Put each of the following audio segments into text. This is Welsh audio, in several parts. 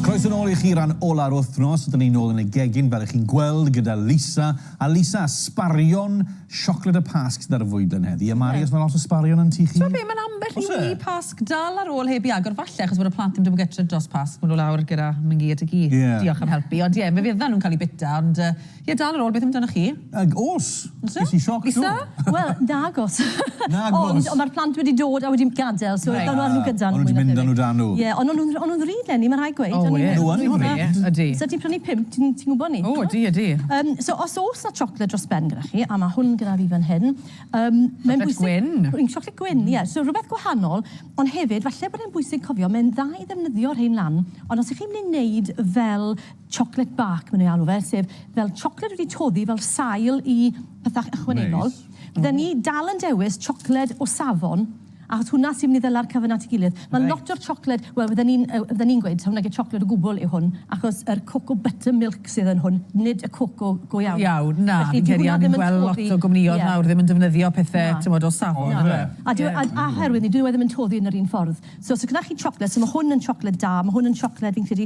Croeso yn ôl i chi ran ola'r wythnos, ydyn ni'n ôl yn y gegin fel ych chi'n gweld gyda Lisa, a Lisa, sbarion siocled y Pasg sydd ar y fwydlen heddi, a Mari os mae lot o sbarion yn tŷ chi? T'mod be, mae'n ambell i wŷ Pasg dal ar ôl heb i agor, falle achos bod y plant ddim 'di bod gytre dros Pasg, ma' nhw lawr gyda Mingy a Diggy, diolch am helpu, ond ie, fe fyddan nhw'n cael eu bita, ond yy, Ie dal ar ôl beth amdanoch chi? Ag os! O's e? Ges i sioc do. O's e? Wel nag os. Nag os. Ond ond ma'r plant wedi dod a wedi gadel so ddaw nhw â nhw gyda nhw. O'n nhw 'di mynd â nhw 'da nhw. Ie ond o'n nhw'n o'n nhw'n ddrud lenni ma' rhaid gweud. O ie. Nhw yn ddrud. Ydi. Sa ti'n prynu pump ti'n ti'n gwbo ni. O ydi ydi. Yym so os o's 'na chocolate dros ben gyda chi a ma' hwn gyda fi fan hyn yym mae'n bwysig... Chocolate gwyn. Chocolate gwyn ie so rwbeth gwahanol ond hefyd falle bod e'n bwysig cofio mae'n dda i ddefnyddio rhein lan ond os 'ych chi'n myn' i neud fel chocolate bark ma' nw'n alw fe, sef fel chocolate wedi toddi fel sail i pethach ychwanegol. Neis. Fydden ni dal yn dewis chocolate o safon, achos hwnna sy'n myn' i ddala'r cyfan at 'i gilydd. Reit. Ma' lot o'r chocolate, wel fydden ni'n yy fydden ni'n gweud taw nage chocolate o gwbwl yw hwn, achos yr cocoa butter milk sydd yn hwn, nid y coco go iawn. Go iawn, na. Felly dyw hwnna ddim yn toddi... Fi'n credu o'n i'n gweld lot o gwmnïodd... Ie. ...nawr ddim yn defnyddio pethe... Na. ...t'mod o safon. Na. On'd yfe? Ie. A dyw a a oherwydd 'ny dyw e ddim yn toddi yn yr un ffordd. So os o' gynnoch chi chocolate, so ma' hwn yn chocolate da, ma' hwn yn chocolate fi'n credu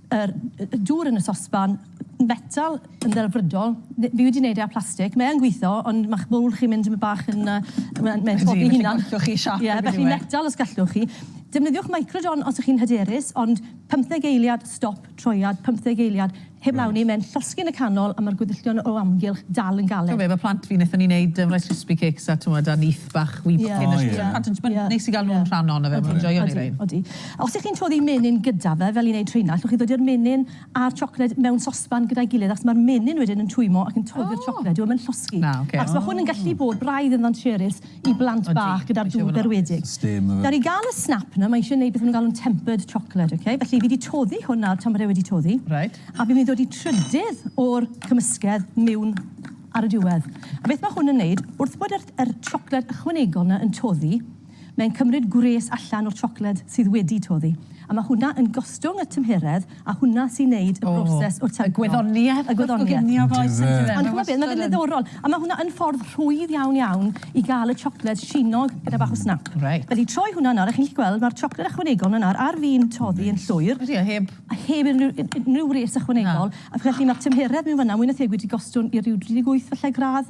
Yr dŵr yn y sosban metal yn ddelfrydol. Fi wedi wneud e â plastig. Mae yn gwitho, ond ma'ch bowl chi'n mynd tymed bach yn yy mae'n mae'n tlodi ei hunan. Ydi, felly gallwch chi siâp Ie, felly metal os gallwch chi. Defnyddiwch microdon os 'ych chi'n hyderus, ond pymtheg eiliad, stop, troiad, pymtheg eiliad, heblaw 'ny, mae'n llosgi yn y canol a ma'r gweddillion o amgylch dal yn galed. Ch'mo' be, ma' plant fi, nethon ni neud yym Rice Krispie Cakes a t'mod a nyth bach wib cyn y sh- pan ti'n t'mod neis i ga'l nw'n rhan ohono fe, ma' nw'n joio neud rhein. Odi, odi. Os ych chi'n toddi menyn gyda fe, fel i'n neud rheina, allwch chi ddodi'r menyn a'r siocled mewn sosban gyda'i gilydd achos mae'r menyn wedyn yn twymmo ac yn toddi'r siocled, dyw e ddim yn llosgi. Achos mae hwn yn gallu bod braidd yn ddansiarus i blant bach gyda'r dŵr berwedig. Nawr, i gael y snap 'na, mae isie neud beth ma' nhw'n galw'n tempered chocolate, ok? Felly, fi 'di toddi hwn nawr tan bod e wedi toddi. Reit. A fi'n mynd i ddodi trydydd o'r cymysgedd miwn ar y diwedd. A beth ma' hwn yn neud, wrth bod yr yr siocled ychwanegol 'na yn toddi, Mae'n cymryd gwres allan o'r siocled sydd wedi toddi, a mae hwnna yn gostwng y tymheredd, a hwnna sy'n neud y broses o tancro. O, y gwyddonieth. Y gwyddonieth. Yndyfe. Ond ch'mod be, ma' fe'n ddiddorol, a ma' hwnna yn ffordd rhwydd iawn iawn i ga'l y siocled sinog gyda bach o snap. Reit. Felly troi hwnna nawr, a chi'n gallu gweld ma'r siocled ychwanegol 'na nawr ar fin toddi yn llwyr. Ydi o, heb... A heb unryw un- unryw wres ychwanegol. Na. A felly ma'r tymheredd mewn fynna mwy na thebyg wedi gostwng i ryw dri deg wyth falle gradd.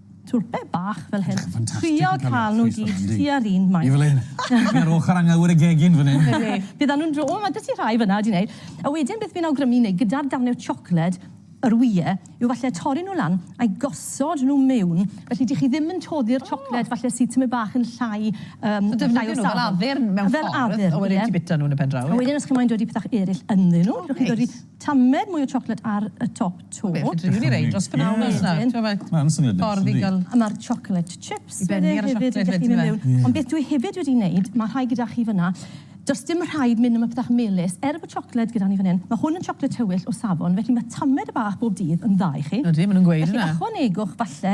Twrpe bach fel hyn. Trio cael nhw gyd tua'r un maint. Ie fel hyn. Fi ar ochr anglawyr y gegin fan hyn. Ydi. Bydd a nhw'n dro- o ma' da ti rhai fynna wedi neud. A wedyn beth fi'n awgrymu neud gyda'r darne o chocolate yr wye yw falle torri nhw lan a'i gosod nhw miwn felly di chi ddim yn toddi'r chocolate falle sydd tymed bach yn llai yym So defnyddio nhw fel addurn mewn ffordd. Fel addurn ie. A wedyn ti bita nhw yn y pen draw ie. A wedyn os chi moyn dodi pethach eryll ynddyn nhw. O neis. Dewch i dodi tamed mwy o chocolate ar y top. 'to. Be' fedri di neud dros bnawn nesa? Ie wedyn. T'mo' ma'... Ma'n syniad neis yndi? ...ffordd i ga'l... A ma'r chocolate chips wedyn hefyd... I benni ar y siocled wedyn yfe? ...i dach chi myn' miwn. Ond beth dwi hefyd wedi neud, ma' rhai gyda chi fyn 'na, do's dim rhaid myn' am y petach melys. Er bo' siocled gyda ni fyn 'yn, ma' hwn yn siocled tywyll o safon, felly ma' tamed bach bob dydd yn dda i chi. Ydi, ma' nw'n gweud ynna. Felly ychwanegwch falle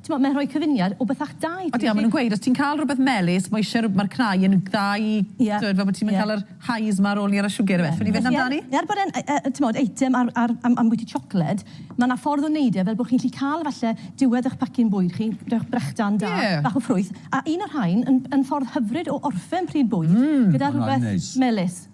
T'mod, mae'n rhoi cyfuniad o bethach da i ti. Odi, a maen nhw'n gweud, os ti'n cael rhywbeth melys, mae isie rhyw- mae'r cnau yn dda i... Ie. ...t'mod, fel bod ti'm yn cael yr highs 'ma ar ôl ni ar y siwgr ife? So ni'n fynd amdani? Felly, er bod e'n, yy, yy, t'mod, eitem ar, ar, am- ambwyty siocled, ma' 'na ffordd o neud e fel bo' chi'n gallu cael falle diwedd 'ych pacin bwyd chi, rhowch brechdan da... Ie. ...bach o ffrwyth, a un o'r rhain yn, yn ffordd hyfryd o orffen pryd bwyd... Mmm, ma' hwnna'n neis. ...gyda rhywbeth melys.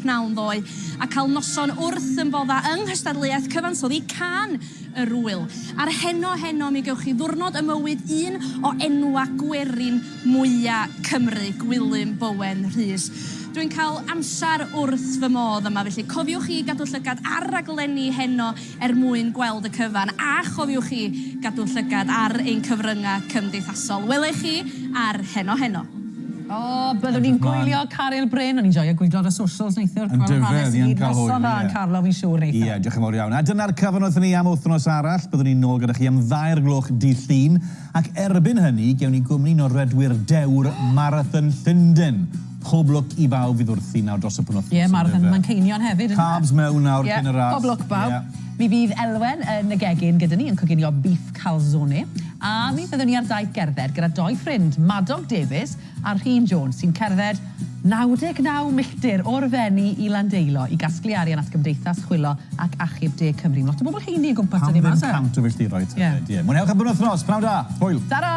pnawn ddoe, a cael noson wrth ymfodda yng nghystadleuaeth cyfansoddi Cân yr Ŵyl. A'r heno heno mi gewch chi ddiwrnod ym mywyd un o enwa gwerin mwya Cymru, Gwilym Bowen Rhys. Dwi'n cael amser wrth fy modd yma, felly cofiwch chi gadw llygad ar raglenni heno er mwyn gweld y cyfan, a chofiwch chi gadw llygad ar ein cyfryngau cymdeithasol. Welai chi ar Heno Heno. O, byddwn ni'n gwylio Caryl Bryn, o'n i'n joio gwylio ar y socials neithiwr, gweld yr hanes i gyd, noson dda yn Carlo fi'n siŵr neithiwr. Ie, diolch yn fawr iawn. A dyna'r cyfan wrthyn ni am wythnos arall, byddwn ni nôl gyda chi am ddair gloch dydd Llun, ac erbyn hynny gewn ni gwmni Noredwyr Dewr Marathon Llundain. Pob lwc i bawb fydd wrthi nawr dros y penwythnos Ie, mae'r yndyfe? Manceinion hefyd yndyfe? Carbs mewn nawr cyn y ras. Ie, pob lwc bawb. Ie. Mi fydd Elwen yn y gegin gyda ni yn coginio beef calzone a mi fyddwn ni ar daith gerdded gyda dou ffrind, Madog Davies a Rhun Jones, sy'n cerdded 99 milltir o'r Fenni i Landeilo i gasglu arian at Gymdeithas Chwilo ac Achub De Cymru. Mae lot o bobl heini o gwmpas 'da ni 'ma, oes e? Pam ddim 100 o filltiroedd tybed? Ie. Ie. Mwynhewch y penwythnos. Pnawn da. Hwyl. Tara!